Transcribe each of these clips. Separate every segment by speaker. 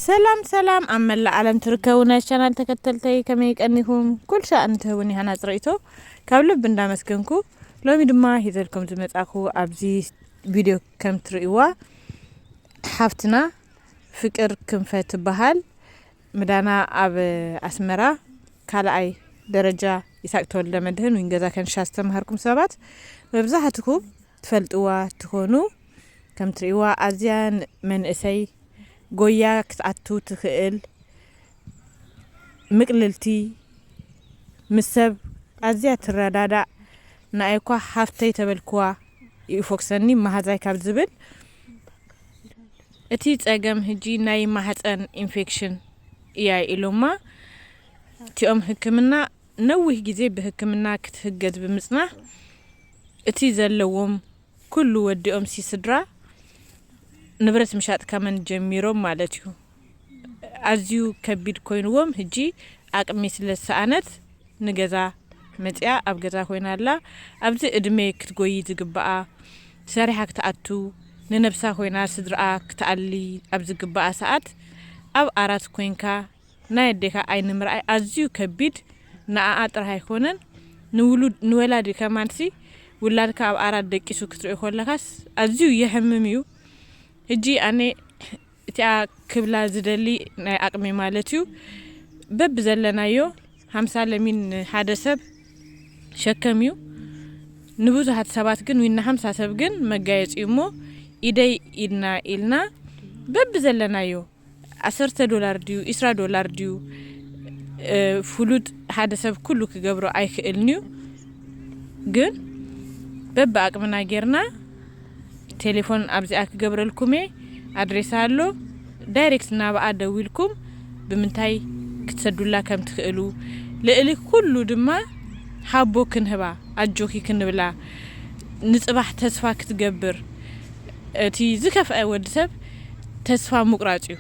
Speaker 1: ሰላም ሰላም ኣብ መላእ ዓለም ትርከቡ ናይ ቻናል ተከተልተይ ከመይ ቀኒኩም ኩል ሻእን ትህቡኒ ሃናጽ ርእይቶ ካብ ልብ እንዳመስገንኩ ሎሚ ድማ ሂዘልኩም ዝመጻኩ ኣብዚ ቪድዮ ከም ትርእይዋ ሓፍትና ፍቅር ክንፈ ትበሃል ምዳና ኣብ ኣስመራ ካልኣይ ደረጃ ይሳቅ ተወልደ መድህን ዊን ገዛ ከንሻ ዝተማሃርኩም ሰባት መብዛሕትኩም ትፈልጥዋ ትኮኑ ከም ትሪእዋ ኣዝያ መንእሰይ ጎያ ክትኣቱ ትክእል ምቅልልቲ ምስ ሰብ ኣዝያ ትረዳዳእ ንኣይኳ ሃፍተይ ተበልክዋ ይፎክሰኒ ማሃዛይ ካብ ዝብል እቲ ጸገም ህጂ ናይ ማህጸን ኢንፌክሽን ኢያ ኢሎማ እቲኦም ህክምና ነዊህ ግዜ ብህክምና ክትህገዝ ብምጽናሕ እቲ ዘለዎም ኩሉ ወዲኦም ሲ ስድራ ንብረት ምሻጥ ከመን ጀሚሮም ማለት እዩ ኣዝዩ ከቢድ ኮይንዎም ህጂ ኣቅሚ ስለ ዝሰኣነት ንገዛ መጺኣ ኣብ ገዛ ኮይና ኣላ ኣብዚ እድሜ ክትጎይ ዝግባኣ ሰሪሓ ክትኣቱ ንነብሳ ኮይና ስድርኣ ክትኣሊ ኣብ ዝግባኣ ሰኣት ኣብ ኣራት ኮንካ ናይ ኣዴካ ዓይኒ ምርኣይ ኣዝዩ ከቢድ ንኣኣ ጥራህ ኣይኮነን ንውሉድ ንወላዲ ከማንሲ ውላድካ ኣብ ኣራት ደቂሱ ክትሪኦ ኮለካስ ኣዝዩ የሕምም እዩ ህጂ ኣነ እቲኣ ክብላ ዝደሊ ናይ ኣቅመይ ማለት እዩ በብዘለናዮ ሃምሳ ለሚን ንሓደ ሰብ ሸከም እዩ ንብዙሃት ሰባት ግን ዊን ንሃምሳ ሰብ ግን መጋየጺ እዩ እሞ ኢደይ ኢድና ኢልና በብዘለናዮ ዓሰርተ ዶላር ድዩ ኢስራ ዶላር ድዩ ፍሉጥ ሓደ ሰብ ኩሉ ክገብሮ ኣይክእልንዩ ግን በብኣቅምና ጌርና ቴሌፎን ኣብዚኣ ክገብረልኩምየ ኣድሬሳ ኣሎ ዳይሬክት ናብኣ ደዊልኩም ብምንታይ ክትሰዱላ ከምትክእሉ ልእሊ ኩሉ ድማ ሃቦ ክንህባ ኣጆኪ ክንብላ ንጽባሕ ተስፋ ክትገብር እቲ ዝከፍኣ ወዲ ሰብ ተስፋ ምቁራጽ እዩ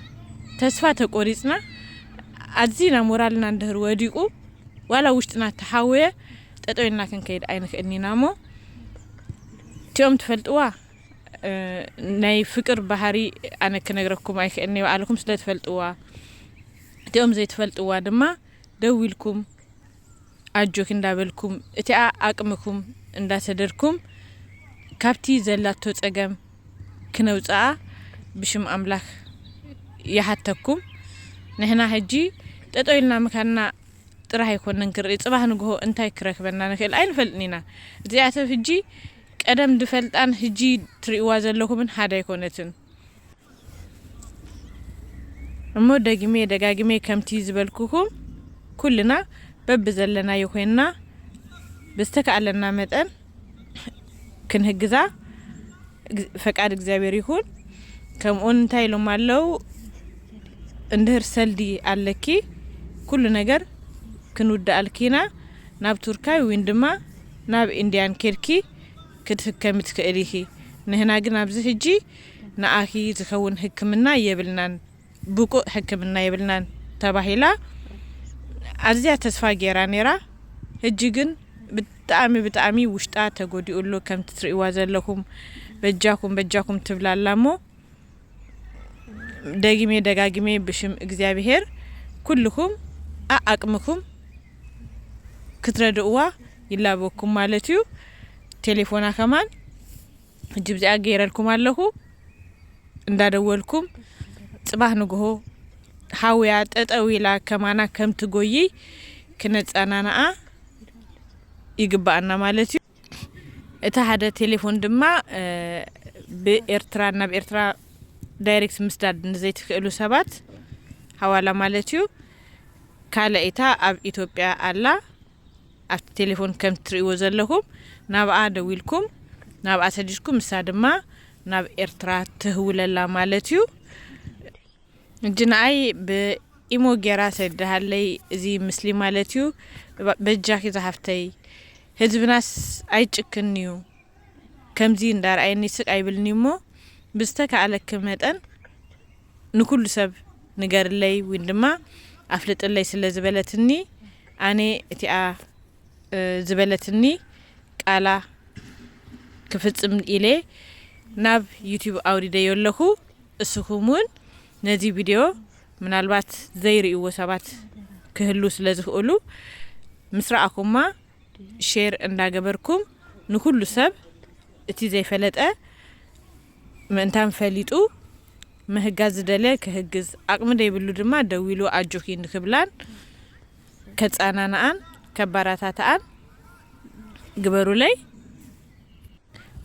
Speaker 1: ተስፋ ተቆሪጽና ኣዚና ሞራልና እንድህር ወዲቁ ዋላ ውሽጥና ተሓውየ ጠጠው ኢልና ክንከይድ ኣይንክእልን ኢና እሞ እቲኦም ትፈልጥዋ ናይ ፍቅር ባህሪ ኣነ ክነግረኩም ኣይክእልን እየ ባዕልኩም ስለ ትፈልጥዋ እቲኦም ዘይትፈልጥዋ ድማ ደው ኢልኩም ኣጆኪ እንዳበልኩም እቲኣ ኣቅምኩም እንዳተደርኩም ካብቲ ዘላቶ ጸገም ክነውጽኣ ብሽም ኣምላክ ይሃተኩም ንሕና ህጂ ጠጠው ኢልና ምካንና ጥራህ ኣይኮነን ክርኢ ጽባህ ንግሆ እንታይ ክረክበና ንክእል ኣይንፈልጥን ኢና እዚኣ ሰብ ህጂ ቀደም ድፈልጣን ህጂ ትሪእዋ ዘለኩምን ሃደ ኣይኮነትን እሞ ደጊሜ ደጋጊሜ ከምቲ ዝበልኩኹም ኩልና በብዘለናዮ ኮይንና ብዝተካኣለና መጠን ክንህግዛ ፈቃድ እግዚኣብሔር ይኹን። ከምኡውን እንታይ ኢሎም ኣለው እንድህር ሰልዲ ኣለኪ ኩሉ ነገር ክንውድኣልኪ ኢና ናብ ቱርካይ ወይን ድማ ናብ ኢንዲያን ኬድኪ ክትህከሚ ትክእሊ ኢኪ ንህና ግን ኣብዚ ህጂ ንኣኪ ዝከውን ህክምና የብልናን ብቁእ ሕክምና የብልናን ተባሂላ ኣዝያ ተስፋ ጌራ ኔራ ህጂ ግን ብጣኣሚ ብጣኣሚ ውሽጣ ተጎዲኡ ኣሎ ከምቲ ትርእዋ ዘለኩም በጃኩም በጃኩም ትብላ ኣላ እሞ ደጊሜ ደጋጊሜ ብሽም እግዚኣብሄር ኩልኩም ኣኣቅምኩም ክትረድእዋ ይላበኩም ማለት እዩ ቴሌፎና ከማን ሕጂ ብዚኣ ገይረልኩም ኣለኹ እንዳደወልኩም ጽባህ ንግሆ ሃውያ ጠጠው ኢላ ከማና ከምትጎይይ ክነጸናናኣ ይግባኣና ማለት እዩ እቲ ሓደ ቴሌፎን ድማ ብኤርትራ ናብ ኤርትራ ዳይሬክት ምስዳድ ንዘይትክእሉ ሰባት ሃዋላ ማለት እዩ ካልኣይታ ኣብ ኢትዮጵያ ኣላ ኣብቲ ቴሌፎን ከም ትርእይዎ ዘለኹም ናብኣ ደዊልኩም ናብኣ ሰዲድኩም ንሳ ድማ ናብ ኤርትራ ትህውለላ ማለት እዩ እጂ ንኣይ ብኢሞ ጌራ ሰድሃለይ እዚ ምስሊ ማለት እዩ በጃኪ ዝሃፍተይ ህዝብናስ ኣይጭክን እዩ ከምዚ እንዳርኣየኒ ስቅ ኣይብልኒ እሞ ብዝተካኣለኪ መጠን ንኩሉ ሰብ ንገርለይ ዊን ድማ ኣፍልጥለይ ስለ ዝበለትኒ ኣነ እቲኣ ዝበለትኒ ቃላ ክፍጽም ኢለ ናብ ዩቱብ ኣውሪደዮ ኣለኩ። እስኹም ውን ነዚ ቪድዮ ምናልባት ዘይርእይዎ ሰባት ክህልው ስለ ዝኽእሉ ምስ ረኣኹማ ሼር እንዳገበርኩም ንኹሉ ሰብ እቲ ዘይፈለጠ ምእንታን ፈሊጡ ምህጋዝ ዝደለ ክህግዝ ኣቕሚ ደይብሉ ድማ ደዊሉ ኣጆኺ ንክብላን ከጻናንኣን ከባራታትኣን ግበሩለይ።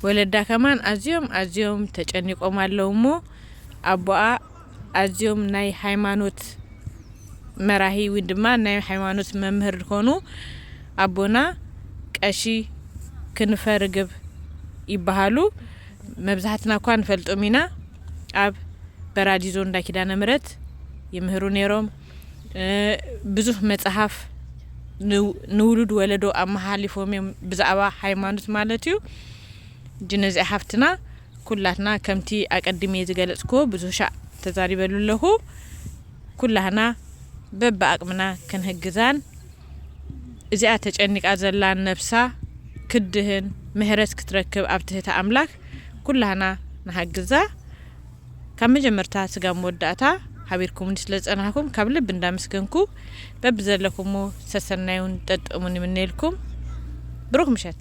Speaker 1: ወለዳ ከማን ኣዝዮም ኣዝዮም ተጨኒቆም ኣለው እሞ ኣቦኣ ኣዝዮም ናይ ሃይማኖት መራሂ ውን ድማ ናይ ሃይማኖት መምህር ዝኾኑ ኣቦና ቀሺ ክንፈ ርግብ ይበሃሉ መብዛሕትና እኳ ንፈልጦም ኢና ኣብ በራዲዞ እንዳ ኪዳነ ምሕረት ይምህሩ ነይሮም ብዙህ መጽሐፍ ንውሉድ ወለዶ ኣመሓሊፎም እዮም ብዛዕባ ሃይማኖት ማለት እዩ ጅን እዚኣ ሓፍትና ኩላትና ከምቲ ኣቀድሜ ዝገለጽክዎ ብዙህ ሻዕ ተዛሪበሉ ኣለኹ ኩላህና በቢ ኣቅምና ክንህግዛን እዚኣ ተጨኒቃ ዘላ ነብሳ ክድህን ምህረት ክትረክብ ኣብ ትህቲ ኣምላክ ኩላህና ንሃግዛ ካብ መጀመርታ ስጋብ መወዳእታ ሓቢርኩሙኒ ስለ ዝጸናሕኩም ካብ ልቢ እንዳመስገንኩ በብዘለኩሞ ሰሰናዩን ጠጥእሙን ይምነየልኩም ብሩክ ምሸት።